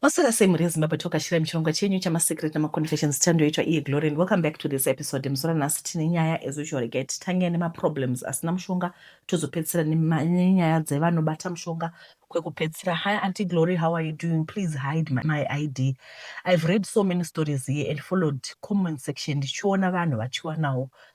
Maswera sei mhuri yezimbabwe tokashira muchirongwa chenyu chamasecret namaconfessions chandoitwa iye glory and welcome back to this episode muzora nhasi tine nyaya as usual regai titange nemaproblems asina mushonga tozopedzisira nenyaya dzevanobata mushonga kwekupedzisira hi anti glory how are you doing please hide my, my id i've read so many stories here and followed comment section ndichiona vanhu vachiwanawo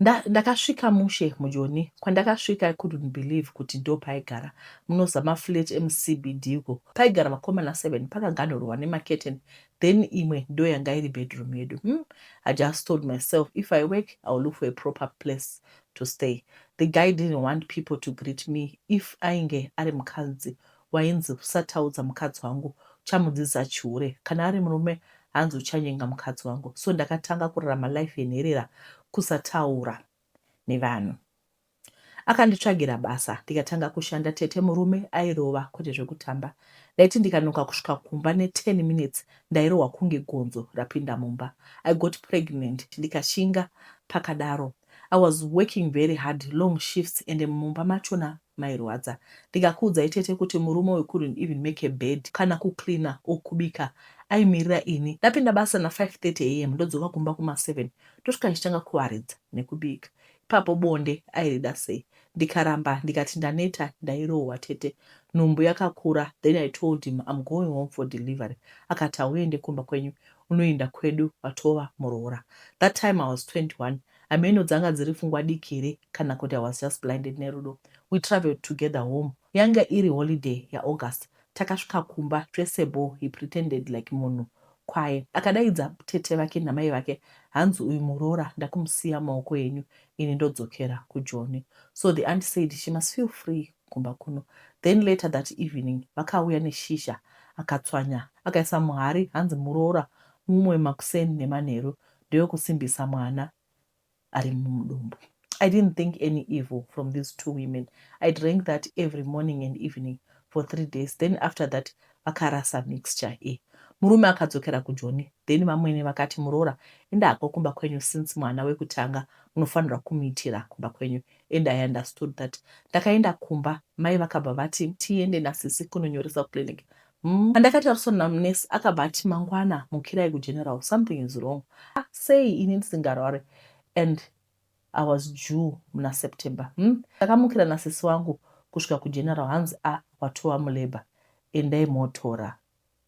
Nda, ndakasvika mushe mujoni kwandakasvika i couldn't believe kuti ndopaigara munozama flat emucbd uko paigara vakomana seven pakaganhurwa nemacurtain then imwe ndoyanga iri bedroom yedu hmm i just told myself if i work i will look for a proper place to stay the guy didn't want people to greet me if ainge ari mukadzi wainzi usataudza mukadzi wangu uchamudzidzisa chihure kana ari murume hanzi uchanyenga mukadzi wangu so ndakatanga kurarama life yenherera kusataura nevanhu akanditsvagira basa ndikatanga kushanda tete murume airova kwete zvekutamba ndaiti ndikanoka kusvika kumba ne10 minutes ndairohwa kunge gonzo rapinda mumba i got pregnant ndikashinga pakadaro i was working very hard long shifts ende mumba machona mairwadza ndikakuudzai tete kuti murume uyu couldn't even make a bed kana kucleaner or kubika aimirira ini ndapinda basa na 530 am ndodzoka kumba kuma 7 ndosvika ndichitanga kuwaridza nekubika ipapo bonde airida sei ndikaramba ndikati ndaneta ndairohwa tete nhumbu yakakura then i told him im going home for delivery akati hauende kumba kwenyu unoenda kwedu watova muroora that time i was 21 Hameno dzanga dziri pfungwa diki here kana kuti I was just blinded nerudo. We travelled together home. Yanga iri holiday yaAugust. Takasvika kumba zvese bho he pretended like munhu kwaye. Akadaidza tete vake namai vake hanzi uyu muroora ndakumusiya mumaoko enyu ini ndodzokera kuJoni. So the aunt said she must feel free kumba kuno. Then later that evening vakauya neshizha akatswanya akaisa muhari hanzi muroora mumwe makuseni nemanheru ndeyokusimbisa mwana ari mudumbu. I didn't think any evil from these two women. I drank that every morning and evening for three days. Then after that, vakarasa mixture e. Murume akadzokera kujoni. Then vamwene vakati muroora enda hako kumba kwenyu since mwana wekutanga munofanirwa kumuitira kumba kwenyu. And I understood that. Ndakaenda kumba, mai vakabva vati tiende nasisi kunonyoresa kuclinic. Umm pandakatariswa namunurse akabva ati mangwana mukirai kugeneral something is wrong ah sei ini ndisingarware and I was due muna September umm takamukira nasisi wangu kusvika kugeneral hanzi ah watova mulabour endai motora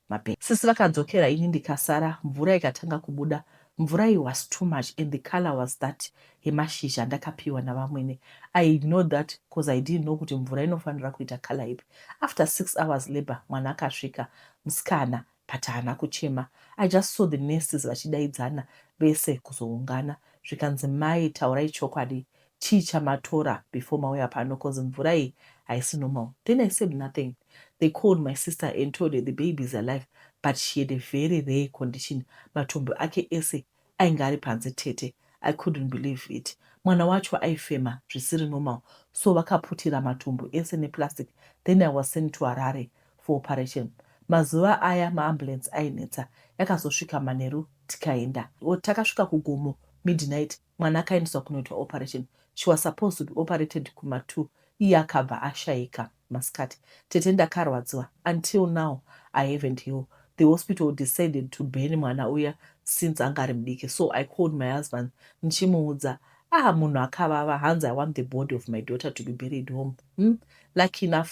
mapaper. Sisi vakadzokera ini ndikasara mvura ikatanga kubuda Mvura iyi was too much and the colour was that yemashizha andakapiwa navamwene. I ignored that coz I didn't know kuti mvura inofanira kuita colour ipi. After six hours labour mwana akasvika, musikana but haana kuchema. I just saw the nurses vachidaidzana vese kuzoungana zvikanzi mai taurai chokwadi chii chamatora before mauya pano coz mvura iyi haisi normal then I said nothing they called my sister and told her the baby is alive but she had a very rare condition matumbu ake ese ainge ari panze tete I couldn't believe it mwana wacho aifema zvisiri normal so vakaputira matumbu ese neplastic then I was sent to Harare for operation mazuva aya maambulance ainetsa yakazosvika manheru tikaenda takasvika kugomo midnight mwana akaendeswa kunoitwa operation she was supposed to be operated kuma two iye akabva ashaika masikati tete ndakarwadziwa until now I haven't heal the hospital decided to burn mwana uya since anga ari mudiki so I called my husband ndichimuudza ah munhu akavava hanzi I want the body of my daughter to be buried home hmm? lucky enough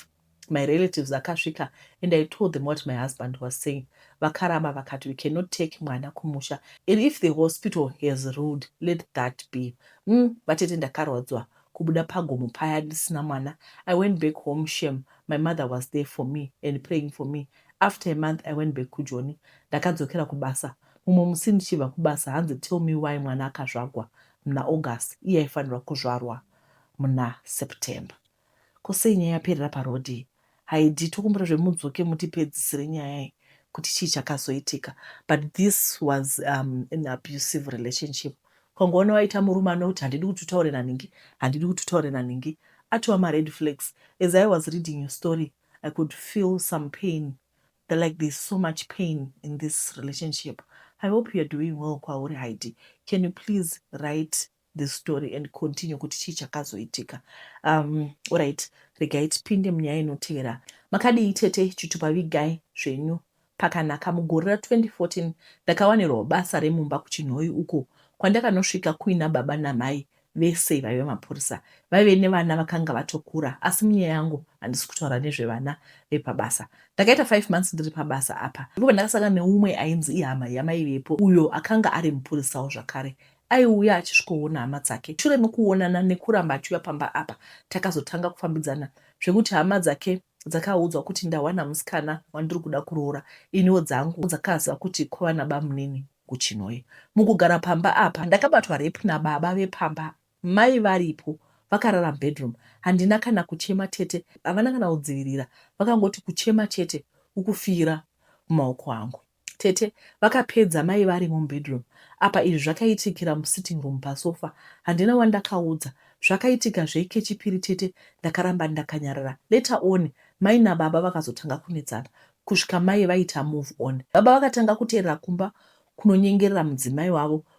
my relatives akasvika and I told them what my husband was saying vakaramba vakati we cannot take mwana kumusha and if the hospital has ruled let that be umm vatete ndakarwadziwa kubuda pagomo paya ndisina mwana I went back home shem my mother was there for me and praying for me after a month I went back kujoni ndakadzokera kubasa mumwe musi ndichibva kubasa hanzi tell me why mwana akazvagwa muna August iye aifanirwa kuzvarwa muna September Ko sei nyaya yaperera paroad iyi. Haidii tokumbira zve mudzoke mutipedzisire nyaya iyi kuti chii chakazoitika but this was um, an abusive relationship ukangoona waita murume anoti handidi kuti utaure nanhingi handidi kuti utaure nanhingi atiwa mared flags as i was reading your story i could feel some pain the like there's so much pain in this relationship i hope youare doing well kwauri haidi can you please write the story and continue kuti chii chakazoitika um, orit regai tipinde munyaya inotevera makadii tete chitupa vigai zvenyu pakanaka mugore ra 2014 ndakawanirwa basa remumba kuchinhoyi uko kwandakanosvika kuina baba namai vese vaive mapurisa vaive nevana vakanga vatokura asi munyaya yangu handisi kutaura nezvevana vepabasa ndakaita five months ndiri pabasa apa ndipo pandakasangana neumwe ainzi ihama yamaivepo uyo akanga ari mupurisawo zvakare Aiuya achisvikoona hama dzake. Shure mekuonana nekuramba achiuya pamba apa, takazotanga kufambidzana zvekuti hama dzake dzakaudzwa kuti ndawana musikana wandiri kuda kuroora iniwo dzangu dzakaziva kuti kwava nabamunini kuChinhoyi. Mukugara pamba apa ndakabatwa rape nababa vepamba mai varipo vakarara mubedroom. Handina kana kuchema tete havana kana kudzivirira vakangoti kuchema chete ukufiira mumaoko angu. Tete vakapedza mai varimo mubedroom apa izvi zvakaitikira musitting room pasofa handina wandakaudza zvakaitika zve kechipiri tete ndakaramba ndakanyarara later on mai nababa vakazotanga kunetsana kusvika mai vaita move on baba vakatanga kuteerera kumba kunonyengerera mudzimai wavo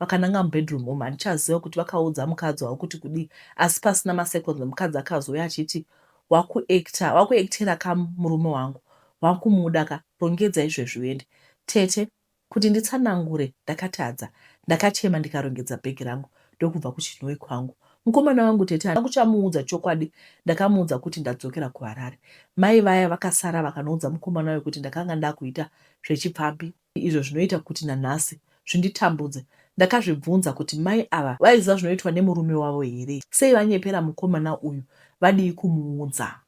Vakananga mubedroom umu handichaziva kuti vakaudza mukadzi wavo kuti kudii asi pasina maseconds mukadzi akazouya achiti wakuactor wakuactera ka murume wangu wakumuda ka rongedza izvezvi uende. Tete kuti nditsanangure ndakatadza ndakachema ndikarongedza bag rangu ndokubva kuChinhoyi kwangu. Mukomana wangu tete handina kuchamuudza chokwadi ndakamuudza kuti ndadzokera kuHarare. Mai vaya vakasara vakanoudza mukomana uyu kuti ndakanga ndakuita zvechipfambi izvo zvinoita kuti nanhasi zvinditambudze. Ndakazvibvunza kuti mai ava vaiziva zvinoitwa nemurume wavo here? Sei vanyepera mukomana uyu? Vadii kumuudza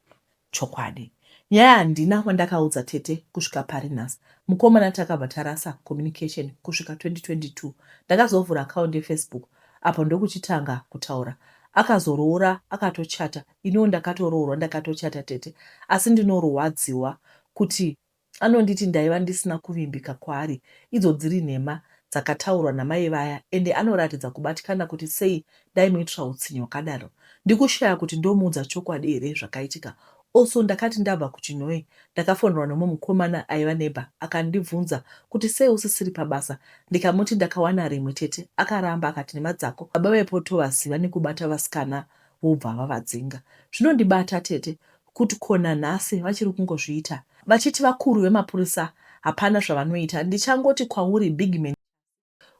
chokwadi? Nyaya handina wandakaudza tete kusvika pari nhasi. Mukomana takabva tarasa communication kusvika 2022. Ndakazovhura account yeFacebook apo ndokuchitanga kutaura. Akazoroora akatochata, iniwo ndakatoroorwa ndakatochata tete asi ndinorwadziwa kuti Anonditi ndaiva ndisina kuvimbika kwaari idzo dziri nhema dzakataurwa namai vaya ende anoratidza kubatikana kuti sei ndaimuitira hutsinye hwakadaro ndikushaya kuti ndomuudza chokwadi here zvakaitika also ndakati ndabva kuChinhoyi ndakafonerwa nemumwe mukomana aiva neighbor akandibvunza kuti sei usisiri pabasa ndikamuti ndakawana rimwe tete akaramba akati nhema dzako baba vaipotovaziva nekubata vasikana vobva vavadzinga zvinondibata tete kut ko nanhasi vachiri kungozviita vachiti vakuru vemapurisa hapana zvavanoita ndichangoti kwauri bigman chasi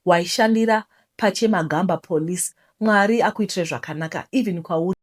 waishandira pachemagamba police mwari akuitire zvakanaka even kwauri bigman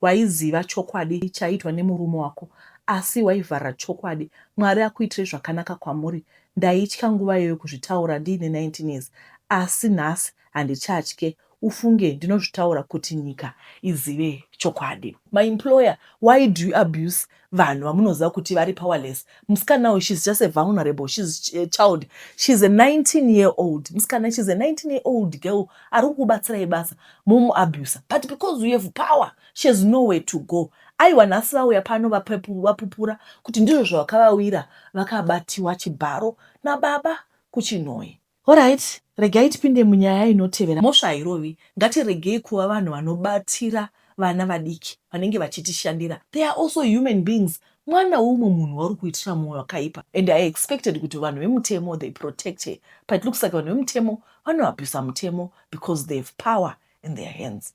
waiziva chokwadi chaiitwa nemurume wako asi waivharira chokwadi mwari akuitire zvakanaka kwamuri ndaitya nguva iyoyo kuzvitaura ndiine 19 years asi nhasi handichatye ufunge ndinozvitaura kuti nyika izive chokwadi. My employer why do you abuse vanhu vamunoziva kuti vari powerless musikana uyu she's just a vulnerable she's a child she's a 19 year old musikana she's a 19 year old girl ari kukubatsirai basa momu abuser but because you have power she has nowhere to go aiwa nhasi vauya pano vapupura kuti ndizvo zvavakavauyira vakabatiwa chibharo nababa kuchinhoyi Horait regai tipinde munyaya inotevera. Mhosva hairovi. Ngatiregei kuva vanhu vanobatira vana vadiki vanenge vachitishandira. They are also human beings. Mwana weumwe munhu wauri kuitira moyo wakaipa and I expected kuti vanhu vemutemo they protect her but it looks like vanhu vemutemo vanoabuser mutemo because they have power in their hands.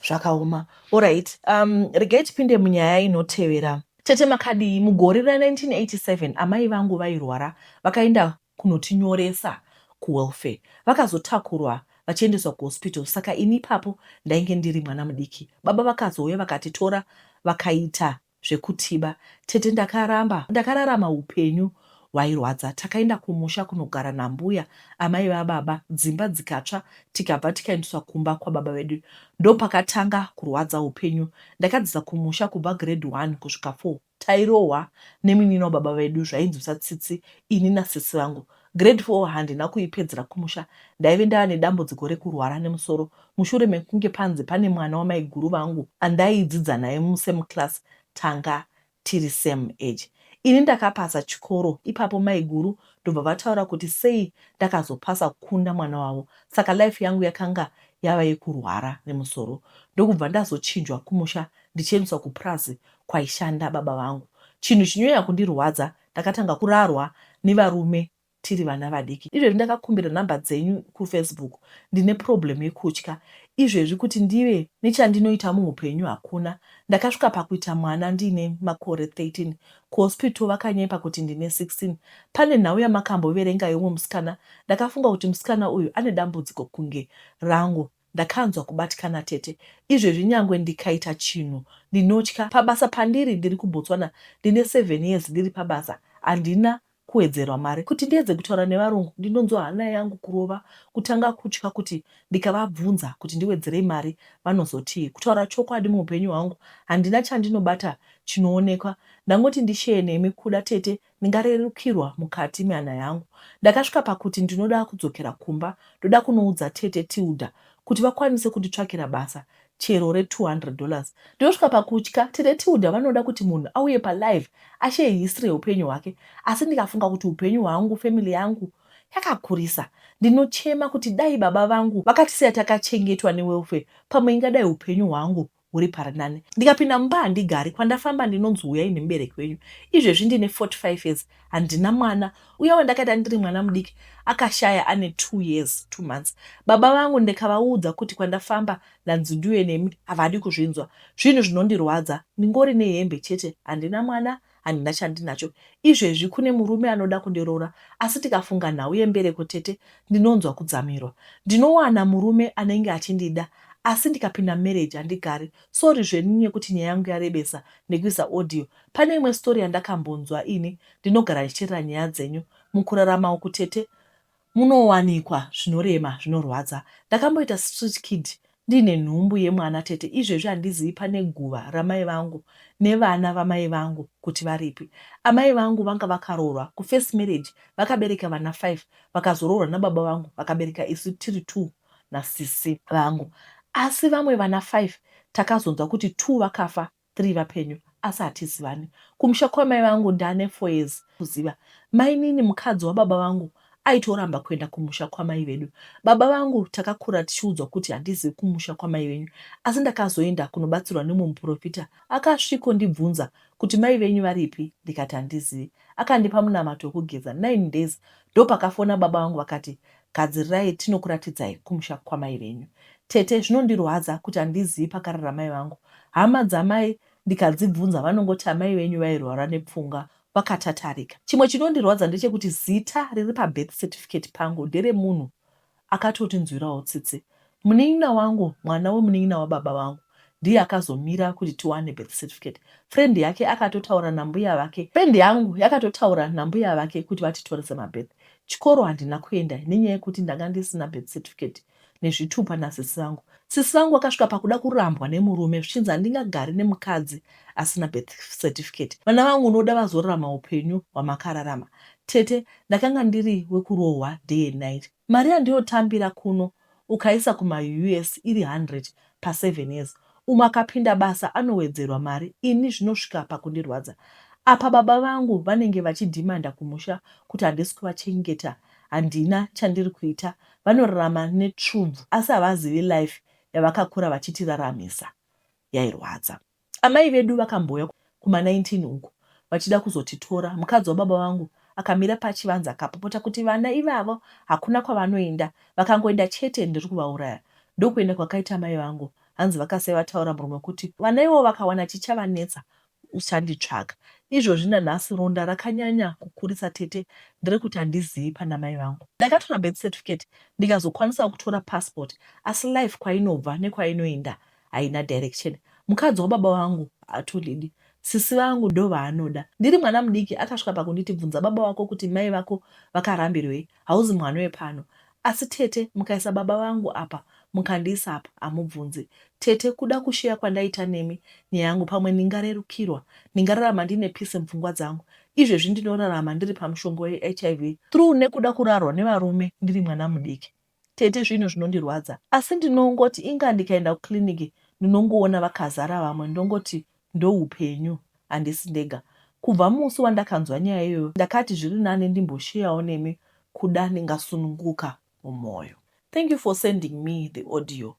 Zvakaoma. Alright, um, regai tipinde munyaya inotevera. Tete makadii? Mugore ra 1987 amai vangu vairwara vakaenda kunotinyoresa kuwelfare. Vakazotakurwa vachiendeswa kuhospital saka ini ipapo ndainge ndiri mwana mudiki. Baba vakazouya vakatitora vakaita zvekutiba tete ndakaramba ndakararama upenyu hwairwadza takaenda kumusha kunogara nambuya amai vababa dzimba dzikatsva tikabva tikaendeswa kumba kwababa vedu ndopakatanga kurwadza upenyu ndakadzidza kumusha kubva grade one kusvika four tairohwa nemunin'ina wababa vedu zvainzwisa tsitsi ini nasisi vangu Grade four handina kuipedzera kumusha ndaive ndava nedambudziko rekurwara nemusoro mushure mekunge panzi pane mwana wamaiguru vangu andaidzidza naye musame class tanga tiri same age. Ini ndakapasa chikoro ipapo maiguru ndobva vataura kuti sei ndakazopasa kukunda mwana wavo saka life yangu yakanga yava yekurwara nemusoro ndokubva ndazochinjwa kumusha ndichiendeswa kupurazi kwaishanda baba vangu. Chinhu chinyanya kundirwadza Ndakatanga kurarwa nevarume tiri vana vadiki. Izvezvi ndakakumbira number dzenyu kufacebook ndine problem yekutya izvezvi kuti ndive nechandinoita muhupenyu hakuna. Ndakasvika pakuita mwana ndiine makore 13 kuhospital vakanyepa kuti ndine 16. Pane nhau yamakamboverenga yeumwe musikana ndakafunga kuti musikana uyu ane dambudziko kunge rangu. Ndakanzwa kubatikana tete izvezvi nyangwe ndikaita chinhu ndinotya pabasa pandiri ndiri kuBotswana ndine seven years ndiri pabasa handina kuwedzerwa mari kuti ndiedze kutaura nevarungu ndinonzwa hana yangu kurova kutanga kutya kuti ndikavabvunza kuti ndiwedzerei mari vanozotii kutaura chokwadi muupenyu hwangu handina chandinobata chinoonekwa ndangoti ndisheye nemi kuda tete Ndingarerukirwa mukati mehana yangu. Ndakasvika pakuti ndinoda kudzokera kumba ndoda kunoudza tete Tilda kuti vakwanise kunditsvakira basa chero re 200 dollars. Ndinosvika pakutya tete Tilda vanoda kuti munhu auye pa live ashare history yeupenyu hwake asi ndikafunga kuti hupenyu hwangu family yangu yakakurisa ndinochema kuti dai baba vangu vakatisiya takachengetwa ne welfare pamwe ingadai hupenyu hwangu huri parinani. Ndikapinda mumba handigari, kwandafamba ndinonzi huyai nemubereki wenyu. Izvezvi ndine 45 years handina mwana, uya wandakaita ndiri mwana mudiki akashaya ane two years two months. Baba vangu ndikavaudza kuti kwandafamba ndanzi ndiuye nemi, havadi kuzvinzwa. Zvinhu zvinondirwadza, ndingori nehembe chete handina mwana handina chandinacho izvezvi kune murume anoda kundiroora asi tikafunga nhau yembereko tete ndinonzwa kudzamirwa ndinowana murume anenge achindida asi ndikapinda marriage handigari sorry zvenyu nekuti nyaya yangu yarebesa nekuisa audio pane imwe story yandakambonzwa ini ndinogara ndichiterera nyaya dzenyu mukurarama uku tete Munowanikwa zvinorema zvinorwadza. Ndakamboita street kid ndiine nhumbu yemwana tete izvezvi handizivi pane guva ramai vangu nevana vamai vangu kuti varipi. Amai vangu vanga vakaroorwa ku first marriage vakabereka vana five vakazoroorwa nababa vangu vakabereka isu tiri two nasisi vangu asi vamwe vana five takazonzwa kuti two vakafa three vapenyu asi hatizivani. Kumusha kwamai vangu ndane four years kuziva. Mainini mukadzi wababa vangu aitoramba kuenda kumusha kwamai vedu. Baba vangu takakura tichiudzwa kuti handizivi kumusha kwamai venyu asi ndakazoenda kunobatsirwa nemumwe muporofita akasviko ndibvunza kuti mai venyu varipi ndikati handizivi. Akandipa munamato wekugeza nine days ndopakafona baba vangu vakati Gadzirirai tinokuratidzai kumusha kwamai venyu. Tete, zvinondirwadza kuti handizivi pakarara mai vangu. Hama dzamai ndikadzibvunza vanongoti amai venyu vairwara nepfungwa vakatatarika. Chimwe chinondirwadza ndechekuti zita riri pabirth certificate pangu nderemunhu akatotinzwirawo tsitsi. Munin'ina wangu, mwana wemunin'ina wababa vangu, ndiye akazomira kuti tiwane birth certificate. Friend yake akatotaura nambuya vake. Friend yangu yakatotaura nambuya vake kuti vatitore semabirth. Chikoro handina kuenda nenyaya yekuti ndanga ndisina birth certificate nezvitupa nasisi vangu. Sisi vangu vakasvika pakuda kurambwa nemurume zvichinzi handingagari nemukadzi asina birth certificate. Vana vangu unoda vazorarama hupenyu hwamakararama. Tete, ndakanga ndiri wekurohwa day and night. Mari yandiyotambira kuno ukaisa kuma us iri 100 pa seven years umwe akapinda basa anowedzerwa mari ini zvinosvika pakundirwadza apa baba vangu vanenge vachidhimanda kumusha kuti handisi kuvachengeta handina chandiri kuita vanorarama netsvubvu asi havazivi life yavakakura vachitiraramisa yairwadza. Amai vedu vakambouya kuma 19 uko vachida kuzotitora. Mukadzi wababa vangu akamira pachivanze akapopota kuti vana ivavo hakuna kwavanoenda, vakangoenda chete ndiri kuvauraya. Ndokuenda kwakaita amai vangu hanzi vakasiya vataura muromo kuti vana ivavo vakawana chichavanetsa uchanditsvaga. Izvozvi nanhasi ronda rakanyanya kukurisa tete ndere kuti handizivi pana mai vangu. Ndakatora birth certificate ndikazokwanisawo kutora passport asi life kwainobva nekwainoenda haina direction. Mukadzi wababa vangu haatondidi. Sisi vangu ndovaanoda. Ndiri mwana mudiki akasvika pakunditi bvunza baba vako kuti mai vako vakarambirwei. Hauzi mwana wepano. Asi tete mukaisa baba vangu apa mukandiisa apa hamubvunzi. Tete kuda kusheya kwandaita nemi nyaya yangu pamwe ndingarerukirwa. Ndingararama ndiine peace mupfungwa dzangu. Izvezvi ndinorarama ndiri pamushonga weHIV through nekuda kurarwa nevarume ndiri mwana mudiki. Tete zvinhu zvinondirwadza asi ndinongoti inga ndikaenda kuclinic ndinongoona vakazara vamwe ndongoti ndoupenyu handisi ndega. Kubva musi wandakanzwa nyaya iyoyo ndakati zviri nani ndimbosheyawo nemi kuda ndingasununguka mumoyo. Thank you for sending me the audio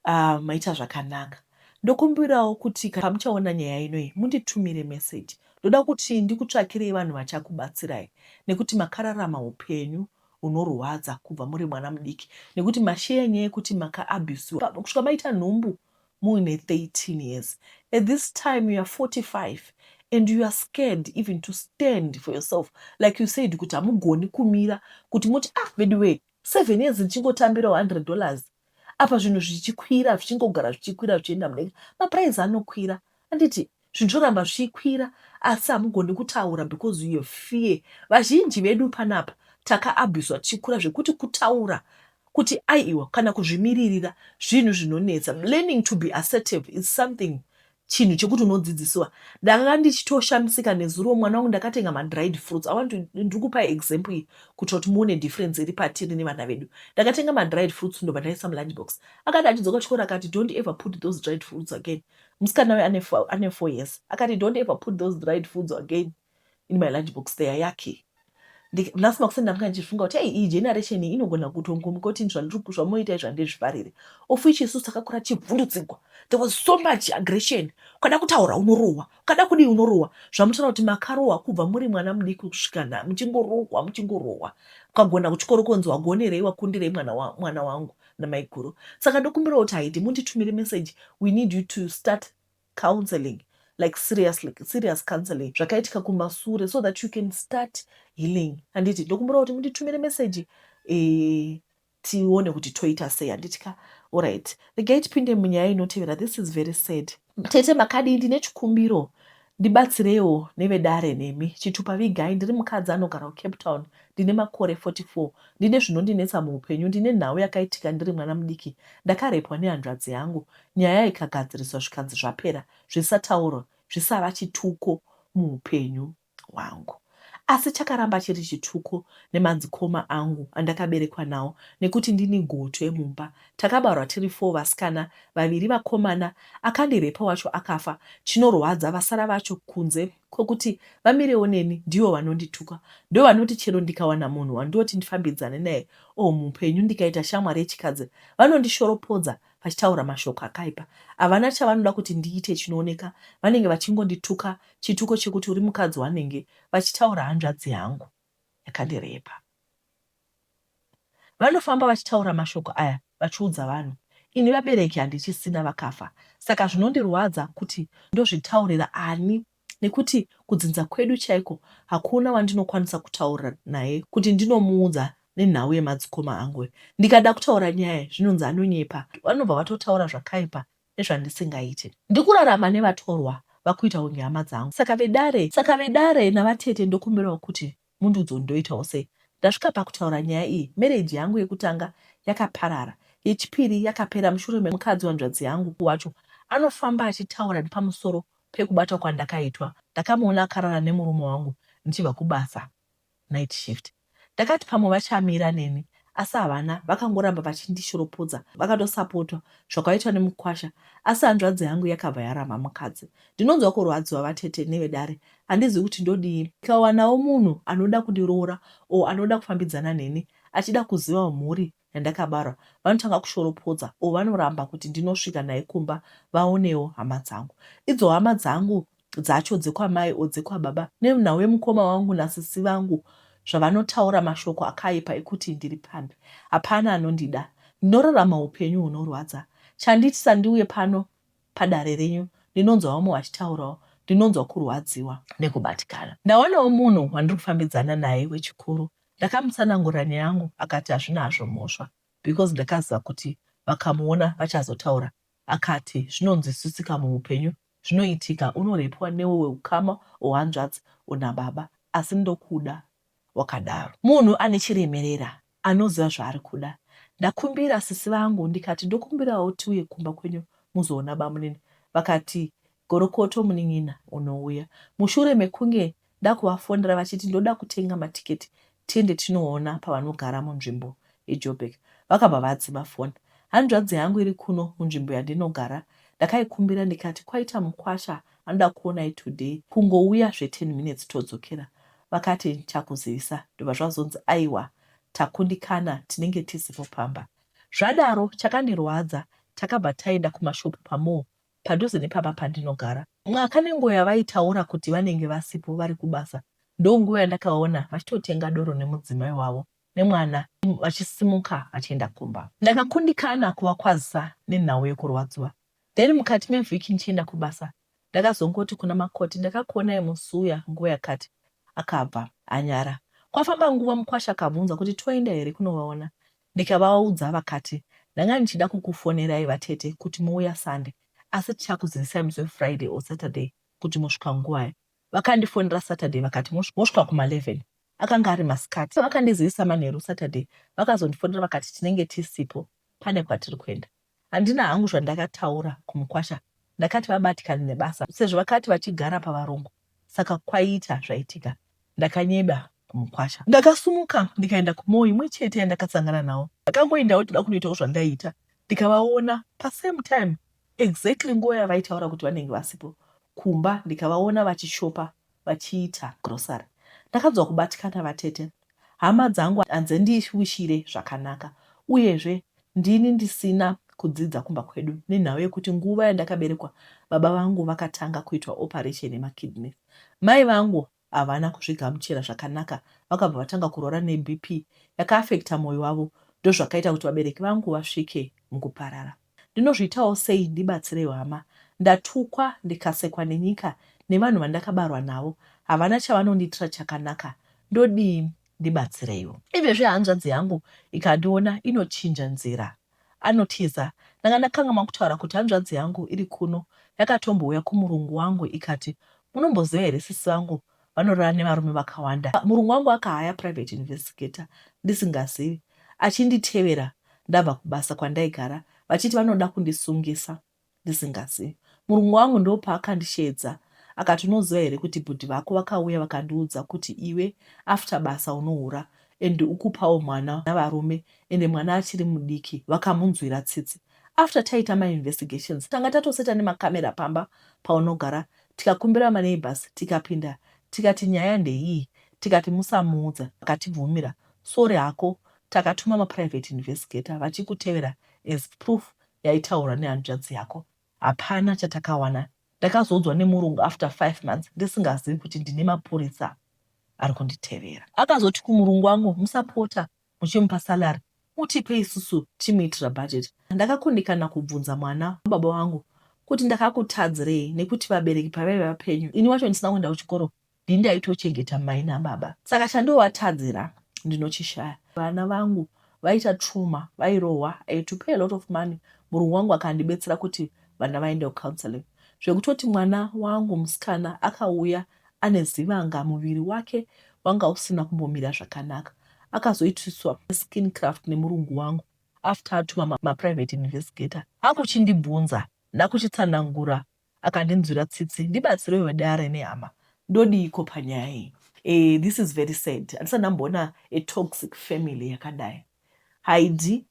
umm maita zvakanaka. Ndokumbirawo kuti kana pamuchaona nyaya ino iyi munditumire message ndoda kuti ndikutsvakirei vanhu vachakubatsirai nekuti makararama hupenyu unorwadza kubva muri mwana mudiki nekuti masheya nyaya yekuti maka abusiwa kusvika maita nhumbu muine 13 years at this time you are 45 and you are scared even to stand for yourself like you said kuti hamugoni kumira kuti moti ah veduwee seven years ndichingotambira 100 dollars apa zvinhu zvichikwira zvichingogara zvichikwira zvichienda mudenga maprice anokwira handiti Zvinhu zvoramba zvichikwira asi hamugoni kutaura because you have fear. Vazhinji vedu panapa takaabhuswa tichikura zvekuti kutaura kuti aiwa kana kuzvimiririra zvinhu zvinonetsa. Learning to be assertive is something chinhu chekuti unodzidzisiwa. Ndakanga ndichitoshamisika nezuro mwana wangu ndakatenga madried fruits. I want to ndiri kupa example iyi kuitira kuti muone difference iri patiri nevana vedu. Ndakatenga madried fruits ndobva ndaisa mulunch box. Akati achidzoka kuchikoro akati don't ever put those dried fruits again. Musikana uyu ane fo- ane four years akati don't ever put those dried foods again in my lunch box they are yucky Ndi- nhasi makuseni ndanga ndichifunga kuti ei iyi generation iyi inogona kutongomuka kuti zvandiri ku- zvamoita izvi handizvifarire of which isusu takakura tichivhundutsirwa there was so much aggression ukada kutaura unorohwa ukada kudii unorohwa zvamutoona kuti makarohwa kubva muri mwana mudiki kusvika nha muchingorohwa muchingorohwa ukagona kuchikoro konzi wagonerei wakundirei mwana, wa, mwana wangu namaiguru saka ndokumbirawo kuti haidi munditumire message we need you to start counseling like seriously serious counseling zvakaitika kumasure so that you can start healing handiti ndokumbirawo kuti munditumire message eh, tione kuti toita sei handiti ka oright regai tipinde munyaya inotevera this is very sad Tete makadii ndine chikumbiro ndibatsireiwo nevedare nemi. Chitupa vigai ndiri mukadzi anogara kuCape Town ndine makore 44 ndine zvinondinetsa muupenyu ndine nhau yakaitika ndiri mwana mudiki ndakarepwa nehanzvadzi yangu nyaya ikagadziriswa zvikanzi zvapera zvisataurwa zvisava chituko muupenyu. wangu asi chakaramba chiri chituko nemadzikoma angu andakaberekwa nawo nekuti ndini gotwe mumba takabarwa tiri four vasikana vaviri vakomana akandirepa wacho akafa chinorwadza vasara vacho kunze kwekuti vamirewo neni ndivo vanondituka ndovanoti chero ndikawana munhu wandoti ndifambidzane naye or mupenyu ndikaita shamwari yechikadzi vanondishoropodza vachitaura mashoko akaipa. Havana chavanoda kuti ndiite chinooneka, vanenge vachingondituka chituko chekuti uri mukadzi wanenge vachitaura hanzvadzi yangu yakandirepa. Vanofamba vachitaura mashoko aya vachiudza vanhu. Ini vabereki handichisina vakafa saka zvinondirwadza kuti ndozvitaurira ani Nekuti kudzinza kwedu chaiko hakuna wandinokwanisa kutaura naye kuti ndinomuudza nenhau yemadzikoma angu. Ndikada kutaura nyaya zvinonzi anonyepa, vanobva vatotaura zvakaipa nezvandisingaite. Ndikurarama nevatorwa vakuita kunge hama dzangu. Saka vedare, saka vedare navatete ndokumbirawo kuti Mundiudzewo ndoitawo sei? Ndasvika pakutaura nyaya iyi, marriage yangu yekutanga yakaparara, yechipiri yakapera mushure memukadzi wehanzvadzi yangu wacho anofamba achitaura nepamusoro pekubatwa kwandakaitwa. Ndakamuona akarara nemurume wangu ndichibva kubasa, night shift. Ndakati pamwe vachamira neni asi havana vakangoramba vachindishoropodza vakatosapotwa zvakaitwa nemukwasha asi hanzvadzi yangu yakabva yaramba mukadzi ndinonzwa kurwadziwa vatete nevedare handizivi kuti ndodii ndikawanawo munhu anoda kundiroora o anoda kufambidzana neni achida kuziva mhuri yandakabarwa vanotanga kushoropodza o vanoramba kuti ndinosvika naye kumba vaonewo hama dzangu idzo hama dzangu dzacho dzekwamai or dzekwababa nemna wemukoma wangu nasisi vangu zvavanotaura mashoko akaipa ekuti ndiri pambi hapana anondida ndinorarama hupenyu hunorwadza chanditisa ndiuye pano padare renyu ndinonzwa vamwe vachitaurawo ndinonzwa kurwadziwa nekubatikana ndawanawo munhu wandiri kufambidzana naye wechikuru ndakamutsanangurira nyaya yangu akati hazvina hazvo mhosva because ndakaziva kuti vakamuona vachazotaura akati zvinonzwisisika muhupenyu Zvinoitika unorepwa newewe ukama or hanzvadzi or nababa asi ndokuda wakadaro. Munhu ane chiremerera anoziva zvaari kuda. Ndakumbira sisi vangu ndikati ndokumbirawo tiuye kumba kwenyu muzoona bamunini vakati gorokoto munin'ina unouya mushure mekunge Ndakuvafonera vachiti ndoda kutenga matiketi tiende tinoona pavanogara munzvimbo yeJoburg vakabva vadzima foni. Hanzvadzi yangu iri kuno munzvimbo yandinogara ndakaikumbira ndikati kwaita mukwasha anoda kuonai today kungouya zve ten minutes todzokera vakati ndichakuzivisa ndobva zvazonzi aiwa takundikana tinenge tisipo pamba. Zvadaro chakandirwadza takabva taenda kumashop pamall padhuze nepamba pandinogara. Mwaka nenguva yavaitaura kuti vanenge vasipo vari kubasa ndonguva yandakavaona vachitotenga doro nemudzimai wavo nemwana vachisimuka vachienda kumba. Ndakakundikana kuvakwazisa nenhau yekurwadziwa then mukati mevhiki ndichienda kubasa ndakazongoti kuna Makoti ndakakuonai musi uya nguva yakati. Akabva anyara. Kwafamba nguva mukwasha akabvunza kuti toenda here kunovaona Ndikavaudza vakati ndanga ndichida kukufonerai vatete kuti mouya Sunday asi tichakuzivisai musi weFriday or Saturday kuti mosvika nguvai. Vakandifonera Saturday vakati mosvika kuma 11. Akanga ari masikati. Vakandizivisa manheru Saturday vakazondifonera vakati tinenge tisipo pane kwatiri kuenda. Handina hangu zvandakataura kumukwasha ndakati vabatikane nebasa sezvo vakati vachigara pavarungu saka kwaiita zvaitika ndakanyeba kumukwasha. Ndakasumuka ndikaenda kumoo imwe chete yandakasangana nawo ndakangoendawo toda kunoitawo zvandaiita ndikavaona pasame time exactly nguva yavaitaura kuti vanenge vasipo kumba ndikavaona vachishopa vachiita grocery ndakanzwa kubatikana vatete hama dzangu hadzendiwishire zvakanaka uyezve ndini ndisina kudzidza kumba kwedu nenhau yekuti nguva yandakaberekwa baba vangu vakatanga kuitwa operation yemakidney mai vangu havana kuzvigamuchira zvakanaka vakabva vatanga kurwara nebp yakaafecta moyo wavo ndozvakaita kuti vabereki vangu vasvike mukuparara. Ndinozviitawo sei ndibatsireiwo hama ndatukwa ndikasekwa nenyika nevanhu vandakabarwa navo havana chavanondiitira chakanaka ndodii ndibatsireiwo. Ivezvi hanzvadzi yangu ikandiona inochinja nzira anotiza ndanga ndakangamwa kutaura kuti hanzvadzi yangu iri kuno yakatombouya kumurungu wangu ikati munomboziva here sisi vangu vanorara nevarume vakawanda. Murungu wangu akahaya private investigator ndisingazivi achinditevera ndabva kubasa kwandaigara vachiti vanoda kundisungisa ndisingazivi. Murungu wangu ndopaakandisheedza akati unoziva here kuti bhudhi vako vakauya vakandiudza kuti iwe after basa unohura and ukupawo mwana navarume ende mwana achiri mudiki vakamunzwira tsitsi after taita mainvestigations tanga tatoseta nemacamera pamba paunogara tikakumbira ma neighbours tikapinda tikati nyaya ndeiyi tikati musamuudza akatibvumira sorry hako takatuma ma private investigator vachikutevera as proof yaitaurwa nehanzvadzi yako hapana chatakawana ndakazoudzwa nemurungu after five months ndisingazivi kuti ndine mapurisa arikunditevera akazoti kumurungu wangu musapota muchimupa salary mutipe isusu timuitira budget. Ndakakundikana kubvunza mwana wababa vangu kuti ndakakutadzirei nekuti vabereki pavaive vapenyu ini wacho ndisina kuenda kuchikoro ndini ndaitochengeta mai nababa saka chandovatadzira ndinochishaya. Vana vangu vaita trauma vairohwa I had to pay a lot of money murungu wangu akandibetsera kuti vana vaende kucounselling zvekutoti mwana wangu musikana akauya ane zivanga muviri wake wanga usina kumbomira zvakanaka akazoitiswa skin craft nemurungu wangu after atuma ma, ma private investigator akuchindibvunza ndakuchitsanangura akandinzwira tsitsi ndibatsirewo vedare nehama ndodiiko panyaya iyi eh, this is very sad handisati ndamboona a toxic family yakadai haidi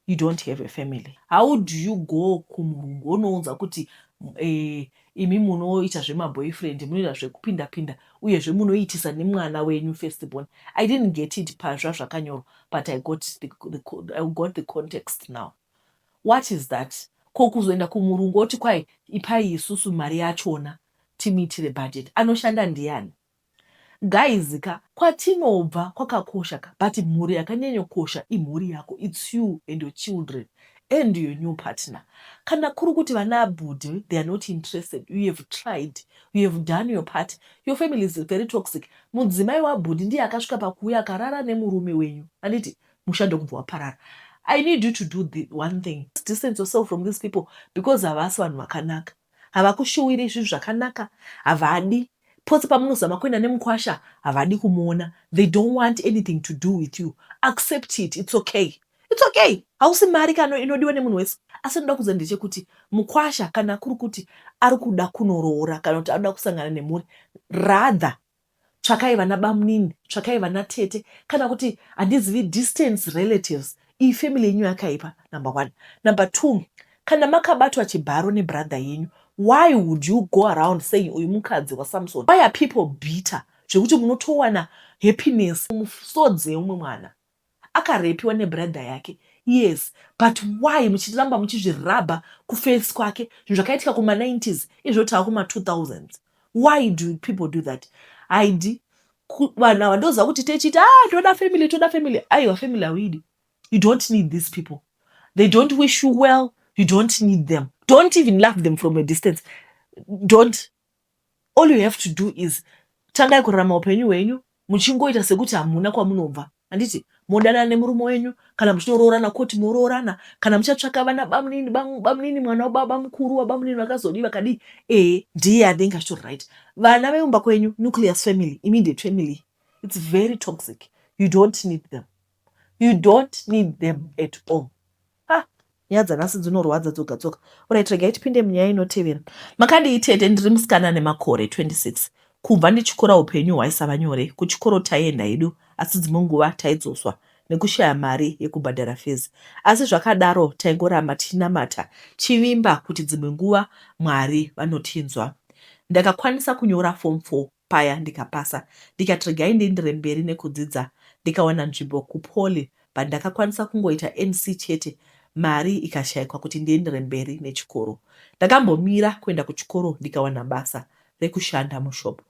you don't have a family how do you go kumurungu wonounza kuti eh, imi munoita zvemaboyfriend munoita zvekupinda pinda uyezve munoitisa nemwana wenyu first born i didn't get it pazva zvakanyorwa but i got the, the, i got the context now what is that ko kuzoenda kumurungu oti kwai ipai isusu mari yachona timuitire budget anoshanda ndiani Guys ka kwatinobva kwakakosha ka but mhuri yakanyanyokosha imhuri yako its you and your children and your new partner kana kuri kuti vana abhudhi they are not interested you have tried you have done your part your family is very toxic mudzimai wabhudhi ndiye akasvika pakuuya akarara nemurume wenyu anditi musha ndokubva waparara I need you to do the one thing. Distance yourself from these people because havasi vanhu vakanaka. havakushuwiri zvinhu zvakanaka havadi pose pamunozama kuenda nemukwasha havadi kumuona they don't want anything to do with you accept it it's okay it's okay hausi mari kano inodiwa nemunhu wese asi anoda kuza ndechekuti mukwasha kana kuri kuti ari kuda kunoroora kana kuti anoda kusangana nemhuri rather tsvakai vana bamunini tsvakai vana tete kana kuti handizivi distance relatives iyi family yenyu yakaipa number one number two kana makabatwa chibharo nebrother yenyu why would you go around saying uyu mukadzi wasamson why are people bitter zvekuti munotowana happiness mumusodzi yeumwe mwana Akarepiwa ne brother yake yes but why muchiramba muchizvi rubber ku face kwake zvinhu zvakaitika kuma 90s izvo tava kuma 2000s why do people do that haidi vanhu ava ndoziva kuti techiita ah toda family toda family aiwa family hauidi you don't need these people they don't wish you well you don't need them don't even love them from a distance don't all you have to do is tangai kurarama upenyu hwenyu muchingoita sekuti hamuna kwamunobva handiti modanana nemurume wenyu kana muchinoroorana koti moroorana kana muchatsvaka vana bamunini bamunini mwana wababa mukuru wabamunini vakazodii vakadii ee ndiye anenge achitori right vana vemumba kwenyu nucleus family immediate family its very toxic you don't need them you don't need them at all Ah, nyaya dzanhasi dzinorwadza dzoga dzoga. Alright, regai tipinde munyaya inotevera. Makadii tete? Ndiri musikana ane makore 26. Kubva ndichikura upenyu hwaisava nyore. Kuchikoro taienda hedu, asi dzimwe nguva taidzoswa nekushaya mari yekubhadhara fees. Asi zvakadaro taingoramba tichinamata tichivimba kuti dzimwe nguva Mwari vanotinzwa. Ndakakwanisa kunyora form 4 paya ndikapasa ndikati regai ndiendere mberi nekudzidza ndikawana nzvimbo kuPoly but ndakakwanisa kungoita NC chete mari ikashaikwa kuti ndiendere mberi nechikoro. Ndakambomira kuenda kuchikoro ndikawana basa rekushanda mushop.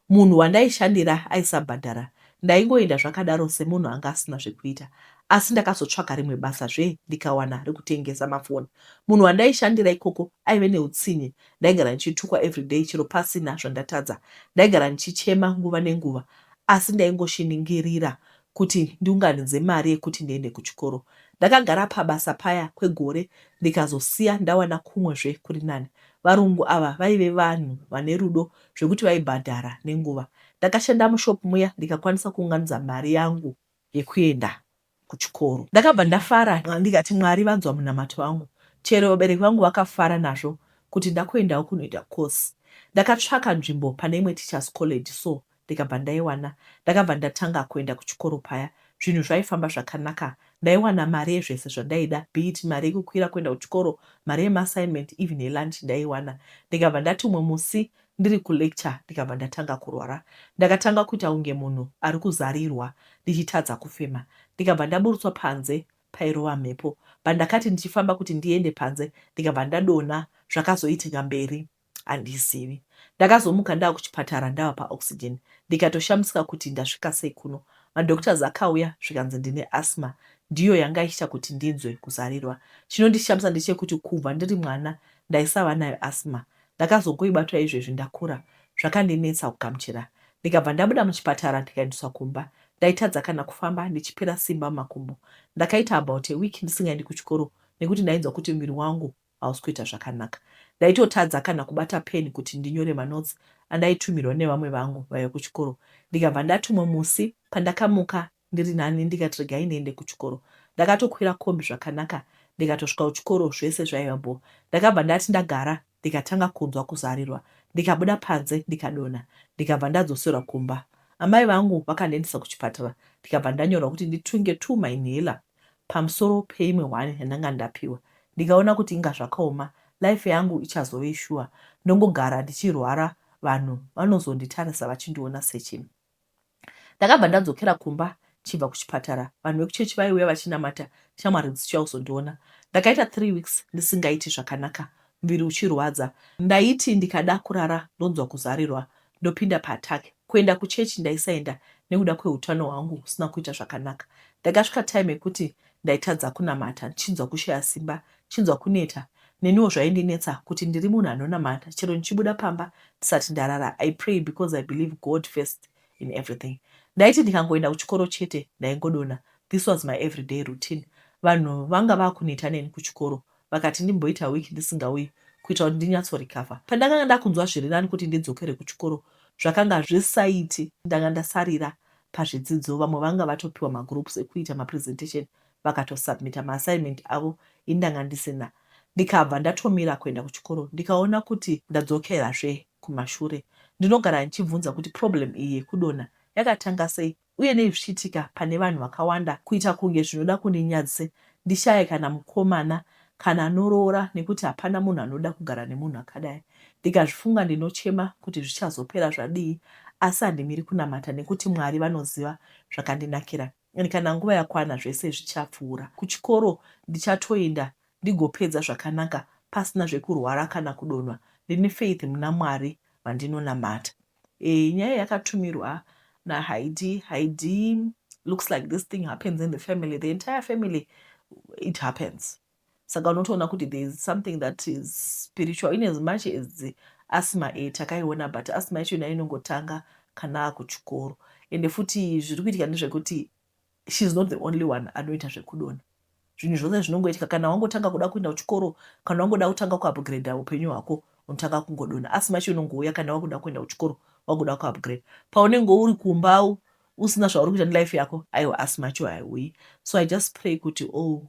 Munhu wandaishandira aisabhadhara ndaingoenda zvakadaro semunhu anga asina zvekuita asi ndakazotsvaga rimwe basa zve ndikawana rekutengesa mafoni. Munhu wandaishandira ikoko aive neutsinye Ndaigara ndichitukwa everyday chero pasina zvandatadza. Ndaigara ndichichema nguva nenguva asi ndaingoshiningirira kuti ndiunganidze mari yekuti ndiende kuchikoro. Ndakagara pabasa paya kwegore ndikazosiya ndawana kumwe zve kuri nani. Varungu ava vaive vanhu vane rudo zvekuti vaibhadhara nenguva. Ndakashanda mushop muya ndikakwanisa kuunganidza mari yangu yekuenda kuchikoro. Ndakabva ndafara ndikati Mwari vanzwa munamato wangu chero vabereki vangu vakafara nazvo kuti ndakuendawo kunoita course. Ndakatsvaka nzvimbo pane imwe teachers college so ndikabva ndaiwana. Ndakabva ndatanga kuenda kuchikoro paya zvinhu zvaifamba zvakanaka ndaiwana mari yezvese zvandaida be it mari yekukwira kuenda kuchikoro, mari yemaassignment even yelunch ndaiwana. Ndikabva ndati umwe musi Ndiri kulecture ndikabva ndatanga kurwara. Ndakatanga kuita kunge munhu ari kuzarirwa ndichitadza kufema. Ndikabva ndaburutswa panze pairova mhepo. Pandakati ndichifamba kuti ndiende panze ndikabva ndadonha zvakazoitika mberi handizivi. Ndakazomuka ndava kuchipatara ndava paoxygen ndikatoshamisika kuti ndasvika sei kuno. Madoctors akauya zvikanzi ndine asthma ndiyo yanga ichiita kuti ndinzwe kuzarirwa. Chinondishamisa ndechekuti kubva ndiri mwana ndaisava nayo asthma Ndakazongoiba chaizvoizvi ndakura zvakandinetsa kugamuchira ndikabva ndabuda muchipatara ndikaendeswa kumba. Ndaitadza kana kufamba ndichipera simba mumakumbo. Ndakaita about a week ndisingaendi kuchikoro nekuti ndainzwa kuti muviri wangu hausi kuita zvakanaka. Ndaitotadza kana kubata pen kuti ndinyore manotes andaitumirwa nevamwe vangu vaive kuchikoro ndikabva ndatumwa musi pandakamuka ndiri nani ndikati regai ndiende kuchikoro ndakatokwira kombi zvakanaka ndikatosvika kuchikoro zvese zvaiva bho ndakabva ndati ndagara ndikatanga kunzwa kuzarirwa ndikabuda panze ndikadonha ndikabva ndadzoserwa kumba amai vangu vakandiendesa kuchipatara ndikabva ndanyorwa kuti nditunge two mainhaler pamusoro peimwe one yandanga ndapiwa ndikaona kuti inga zvakaoma life yangu ichazove shuwa ndongogara ndichirwara vanhu vanozonditarisa vachindiona sechim Ndakabva ndadzokera kumba chibva kuchipatara vanhu vekuchechi vaiuya vachinamata shamwari dzichiuya kuzondiona. Ndakaita three weeks ndisingaiti zvakanaka muviri uchirwadza ndaiti ndikada kurara ndonzwa kuzarirwa ndopinda paattack. Kuenda kuchechi ndaisaenda nekuda kweutano hwangu husina kuita zvakanaka. Ndakasvika time yekuti ndaitadza kunamata ndichinzwa kushaya simba Chinzwa kuneta. Neniwo zvaindinetsa kuti ndiri munhu anonamata chero ndichibuda pamba ndisati ndarara I pray because I believe God first in everything. Ndaiti ndikangoenda kuchikoro chete ndaingodonha this was my everyday routine. Vanhu vanga vakuneta neni kuchikoro vakati ndimboita week ndisingauyi kuita kuti ndinyatso recover. Pandakanga ndakunzwa zvirinani kuti ndidzokere kuchikoro zvakanga zvisaiti ndanga ndasarira pazvidzidzo vamwe vanga vatopiwa magroups ekuita mapresentation vakato submitter ma assignment avo ini ndanga ndisina ndikabva ndatomira kuenda kuchikoro ndikaona kuti ndadzokera zve kumashure ndinogara ndichibvunza kuti problem iyi yekudonha yakatanga sei uye nei zvichiitika pane vanhu vakawanda kuita kunge zvinoda kundinyadzise ndishaye kana mukomana kana anoroora nekuti hapana munhu anoda kugara nemunhu akadai ndikazvifunga ndinochema kuti zvichazopera zvadii asi handimiri kunamata nekuti mwari vanoziva zvakandinakira and kana nguva yakwana zvese zvichapfuura. Kuchikoro ndichatoenda ndigopedza zvakanaka pasina zvekurwara kana kudonhwa. Ndine faith muna Mwari vandinonamata. Eeh nyaya yakatumirwa na Haidhi. Haidhi looks like this thing happens in the family. The entire family it happens. saka unotoona kuti there is something that is spiritual in as much as asma e takaiona but asma yacho nayo inongotanga kana akuchikoro ende futi zviri kuitika ndezvekuti she is not the only one anoita zvekudona zvinhu zvose zvinongoitika kana wangotanga kuda kuenda kuchikoro kana wangoda kutanga kuupgrade upenyu hwako unotanga kungodona asi macho unongouya kana wakuda kuenda kuchikoro wakuda kuupgrade paunenge uri kumba usina zvauri kuita nelife yako aiwa asi macho haiuyi so i just pray kuti all oh,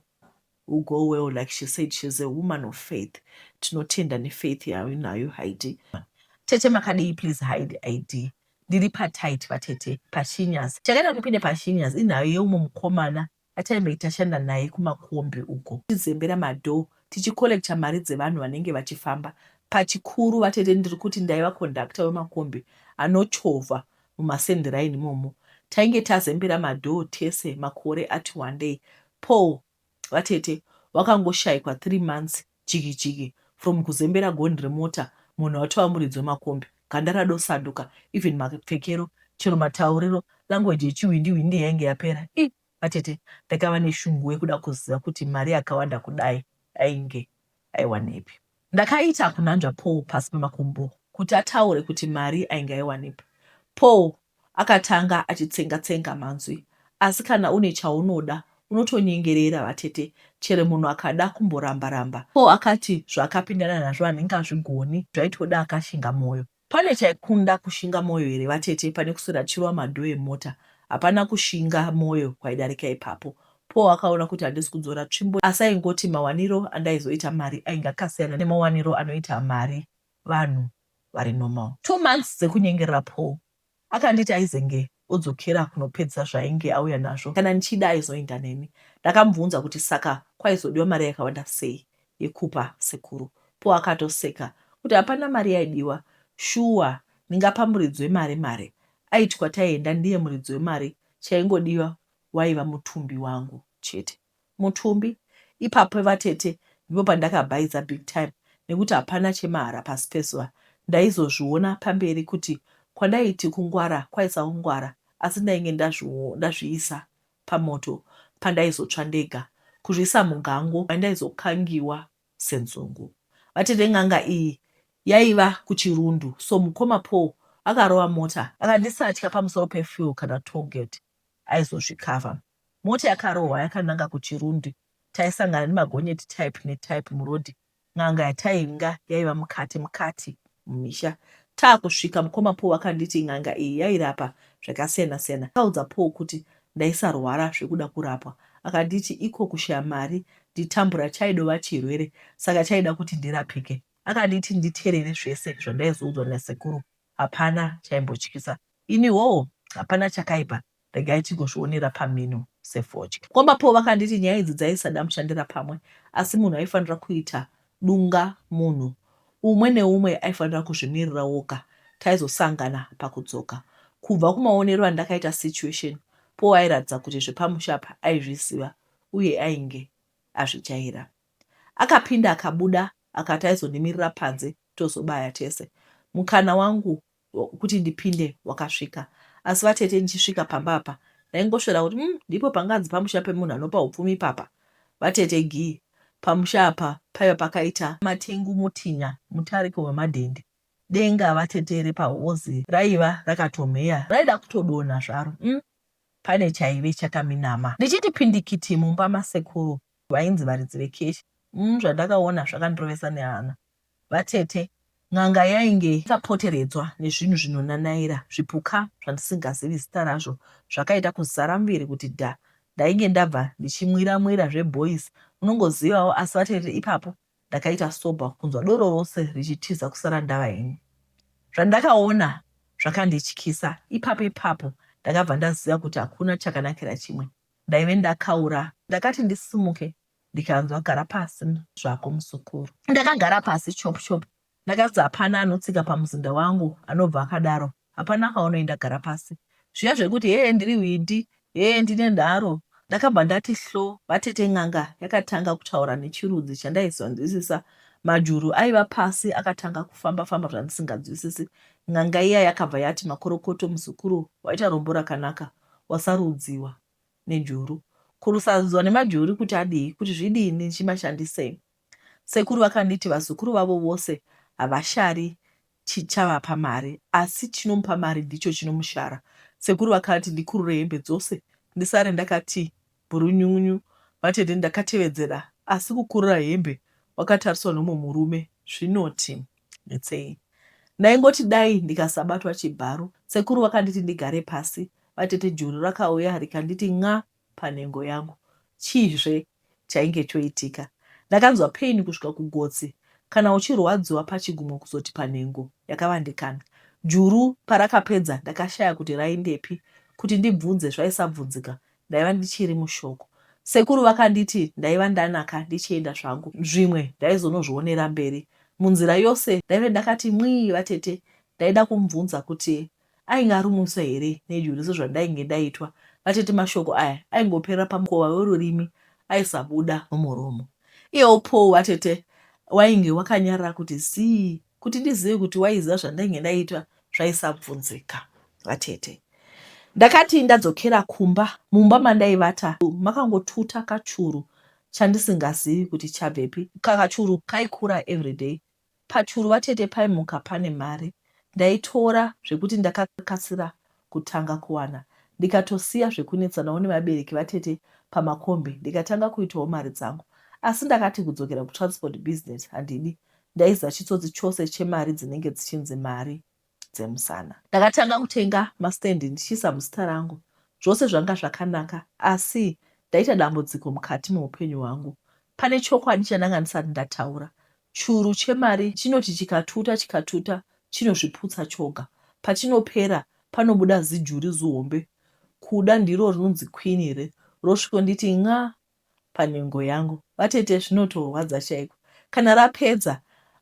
u go well like she said she's a woman of faith tinotenda ne faith yauinayo Haidee. Tete makadii please hide id ndiri patight vatete pashinyazi chakaita kuti ndipinde pashinyazi inhayo yeumwe mukomana ataimbei tashanda naye kumakombi uko tichizembera madoor tichicollecta mari dzevanhu vanenge vachifamba pachikuru vatete ndiri kuti ndaiva conductor wemakombi anochovha mumasendiraini imomo tainge tazembera madoor tese makore ati wandei Paul, vatete wakangoshaikwa three months jiki jiki from kuzembera gonhi remota munhu atova muridzi wemakombi, ganda radosaduka even mapfekero chero matauriro language yechihwindi hwindi yainge yapera iih vatete ndakava neshungu wekuda kuziva kuti mari yakawanda kudai ainge. aiwanepi. Ndakaita kunanzva Paul pasi pemakumbo kuti ataure kuti mari ainge aiwanepi. Paul akatanga achitsenga tsenga manzwi asi kana une chaunoda unotonyengerera vatete chero munhu akada kumboramba ramba. Paul akati zvaakapindana nazvo handingazvigoni zvaitoda akashinga moyo. Pane chaikunda kushinga moyo here vatete pane kuswera tichirova madoor emota hapana kushinga moyo kwaidarika ipapo. Paul akaona kuti handisi kudzora tsvimbo asi aingoti mawaniro andaizoita mari ainge akasiyana nemawaniro anoita mari vanhu vari normal. Two months dzekunyengerera Paul Akanditi aizenge odzokera kunopedza zvaainge auya nazvo kana ndichida aizoenda neni. Ndakamubvunza kuti saka kwaizodiwa mari yakawanda sei yekupa sekuru. Paul akatoseka kuti hapana mari yaidiwa shuwa ndingapa muridzi wemari mari aiti kwataienda ndiye muridzi wemari chaingodiwa waiva mutumbi wangu chete. Mutumbi. Ipapo vatete ndipo pandakabhaiza big time nekuti hapana chemahara pasi pezuva. Ndaizozviona pamberi kuti kwandaiti kungwara kwaiva kungwara asi ndainge ndazviisa pamoto pandaizotsva ndega. Kuzviisa mugango mandaizokangiwa senzungu. Vatete n'anga iyi yaiva kuChirundu so mukoma Paul akarova mota. Akandisatya pamusoro pefuel kana toll gate aizozvicover. Mota yakarohwa yakananga kuChirundi. Taisangana nemagonyeti type netype muroad. N'anga yatainga yaiva mukati mukati mumisha. Taakusvika mukoma Paul vakanditi n'anga iyi yairapa zvakasiyana siyana. Ndakaudza Paul kuti ndaisarwara zvekuda kurapwa. Akanditi iko kushaya mari nditambura chaidova chirwere saka chaida kuti ndirapike. Akanditi nditerere zvese zvandaizoudzwa nasekuru. Hapana chaimbotyisa ini hoo hapana chakaipa regai tingozvionera pamhino sefodya. Kwamba Paul vakanditi nyaya idzi dzaisada mushandira pamwe asi munhu aifanira kuita dunga munhu umwe neumwe aifanira kuzvimirira woga taizosangana pakudzoka. Kubva kumaonero andakaita situation Paul airatidza kuti zvepamusha apa aizviziva uye ainge azvijaira. Akapinda akabuda akati aizondimirira panze tozobaya tese. Mukana wangu wekuti ndipinde wakasvika asi vatete ndichisvika pamba apa ndaingosvera kuti umm ndipo panganzi pamusha pemunhu anopa upfumi ipapa. Vatete Gee pamusha apa paiva pakaita. Matengu Mutinya mutariko wemadhende. Denga vatete repahozi raiva rakatomheya raida kutodonha zvaro umm pane chaive chakaminama. Ndichiti pindikiti mumba masekuru vainzi varidzi vekeshi umm zvandakaona zvakandirovesa nehana vatete n'anga yainge yakapoteredzwa nezvinhu zvinonanaira zvipuka zvandisingazivi zita razvo zvakaita kuzara muviri kuti dha ndainge ndabva ndichimwira mwira zveboys unongozivawo asi vatete ipapo ndakaita sober kunzwa doro rose richitiza kusara ndava ini zvandakaona zvakandityisa ipapo ipapo ndakabva ndaziva kuti hakuna chakanakira chimwe ndaive ndakaura. Ndakati ndisimuke ndikanzwa gara pasi zvako muzukuru. Ndakagara pasi chop chop ndakanzi hapana anotsika pamuzinda wangu anobva akadaro hapana kwaunoenda gara pasi. Zviya zvekuti hee ndiri hwindi hee ndine nharo ndakabva ndati hlo vatete n'anga yakatanga kutaura nechirudzi chandaisanzwisisa majuru aiva pasi akatanga kufamba famba zvandisinganzwisisi n'anga iya yakabva yati makorokoto muzukuru waita rombo rakanaka wasarudziwa nejuru. Ko kusarudziwa nemajuri kuti adii, kuti zvidini ndichimashandisei? Sekuru vakanditi vazukuru vavo vose havashari chavapa mari asi chinomupa mari ndicho chinomushara. Sekuru vakati ndikurure hembe dzose ndisare ndakati Bhurunyunyu vatete ndakatevedzera asi kukurura hembe wakatariswa nomwe murume zvinoti netsei. Ndaingoti dai ndikasabatwa chibharo. Sekuru vakanditi ndigare pasi vatete juru rakauya rikanditi nxa panhengo yangu. Chii zve chainge choitika. Ndakanzwa pain kusvika kugotsi kana uchirwadziwa pachigumwe kuzoti panhengo yakavandikana. Juru parakapedza ndakashaya kuti raindepi kuti ndibvunze zvaisabvunzika ndaiva ndichiri mushoko. Sekuru vakanditi ndaiva ndanaka ndichienda zvangu zvimwe ndaizonozvionera mberi. Munzira yose ndaive ndakati mwii vatete ndaida kumubvunza kuti ainge arumutswa here nejuru sezvandainge ndaitwa. Vatete mashoko aya aingoperera pamukova werurimi aisabuda mumuromo. Iyewo Paul vatete wainge wakanyarara kuti zii Kuti ndizive kuti waiziva zvandainge ndaitwa zvaisabvunzika. Vatete. Ndakati ndadzokera kumba, mumba mandaivata makangotuta kachuru chandisingazivi kuti chabvepi. Kakachuru kaikura everyday. Pachuru vatete paimuka pane mari. Ndaitora zvekuti ndakakasira kutanga kuwana ndikatosiya zvekunetsanawo nevabereki vatete pamakombi ndikatanga kuitawo mari dzangu asi ndakati kudzokera kutransport business handidi ndaiziva chitsotsi chose chemari dzinenge dzichinzi mari dzemusana. Ndakatanga kutenga mastand ndichiisa muzita rangu zvose zvanga zvakanaka asi ndaita dambudziko mukati meupenyu hwangu pane chokwadi chandanga ndisati ndataura Churu chemari chinoti chikatuta chikatuta chinozviputsa choga. Pachinopera panobuda zijuri zihombe kuda ndiro rinonzi queen here rosvikonditi nxa panhengo yangu. Vatete zvinotorwadza chaiko. Kana rapedza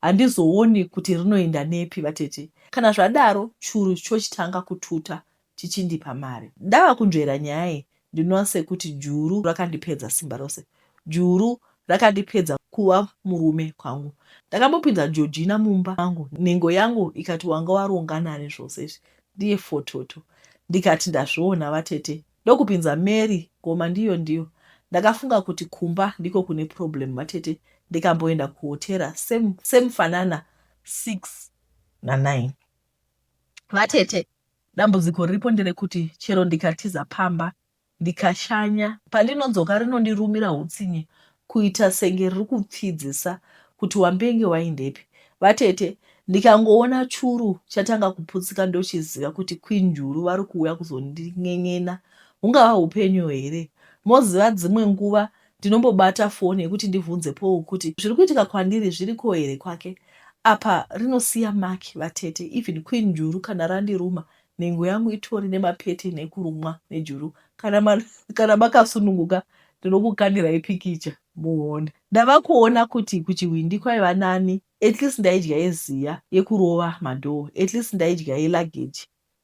handizooni kuti rinoenda nepi vatete. Kana zvadaro churu chochitanga kututa chichindipa mari. Ndava kunzvera nyaya iyi ndinoona sekuti juru rakandipedza simba rose. Juru rakandipedza kuva murume kwangu. Ndakambopinza Georgina mumba mangu nhengo yangu ikati wanga waronga nani zvose izvi ndiye fototo ndikati ndazviona vatete ndokupinza Mary ngoma ndiyo ndiyo. Ndakafunga kuti kumba ndiko kune problem vatete ndikamboenda kuhotera same same fanana 6 na 9. vatete dambudziko riripo nderekuti chero ndikatiza pamba ndikashanya pandinodzoka rinondirumira hutsinye kuita senge riri kupfidzisa kuti wambenge waindepi vatete ndikangoona churu chatanga kuputsika ndochiziva kuti queen njuru vari kuuya kuzondin'en'ena hungava upenyu here moziva dzimwe nguva Ndinombobata foni yekuti ndivhunze Paul kuti zviri kuitika kwandiri zviriko here kwake. Apa rinosiya mark vatete even queen juru kana randiruma nhengo yangu itori nema pattern ekurumwa nejuru kana ma, kana makasununguka ndinokukandirai pikicha muone. Ndava kuona kuti kuchihwindi kwaiva nani at least ndaidya yeziya yekurova madoor at least ndaidya ye luggage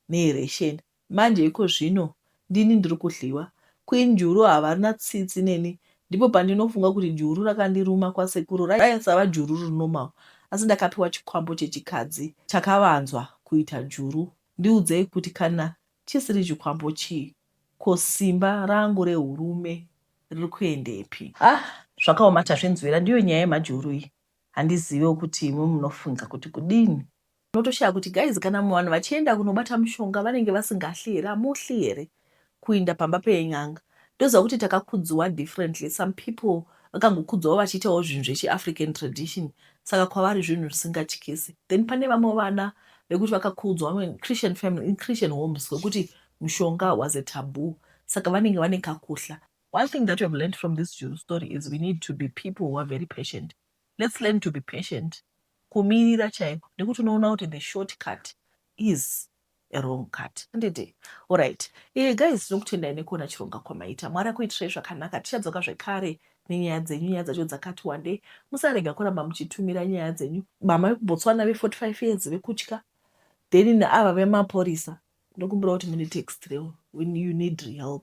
neye ration Manje ikozvino ndini ndiri kudliwa. Queen juru havarina tsitsi neni ndipo pandinofunga kuti juru rakandiruma kwasekuru raisava juru riri normal asi ndakapiwa chikwambo chechikadzi chakavanzwa kuita juru ndiudzei kuti kana chisiri chikwambo chii ko simba rangu rehurume riri kuendepi. Haa zvakaoma tazvinzwira ndiyo nyaya yemajuru iyi handizivewo kuti imi munofunga kuti kudini. Unotoshaya kuti guys kana vanhu vachienda kunobata mushonga vanenge vasingahli here hamuhli here kuinda pamba pen'anga ndoziva kuti takakudziwa differently some people vakangokudzwawo vachiitawo zvinhu zvechiafrican tradition saka kwavari zvinhu zvisingatyisi then pane vamwe vana vekuti vakakudzwa vamwe christian family in christian homes wekuti mushonga was a taboo saka vanenge vane kakuhla one thing that we have learned from this jew story is we need to be people who are very patient Let's learn to be patient kumirira chaiko nekuti unoona kuti the short cut is a wrong cut handiti orit e eh, guys tinokutendai nekuona chironga kwamaita mwari akuitirai zvakanaka tichadzoka zvekare nenyaya dzenyu nyaya dzacho dzakati wandei musarega kuramba muchitumira nyaya dzenyu mama vekubotswana ve45 years vekutya then neava vemaporisa ndokumbira kuti mune text reo when you need help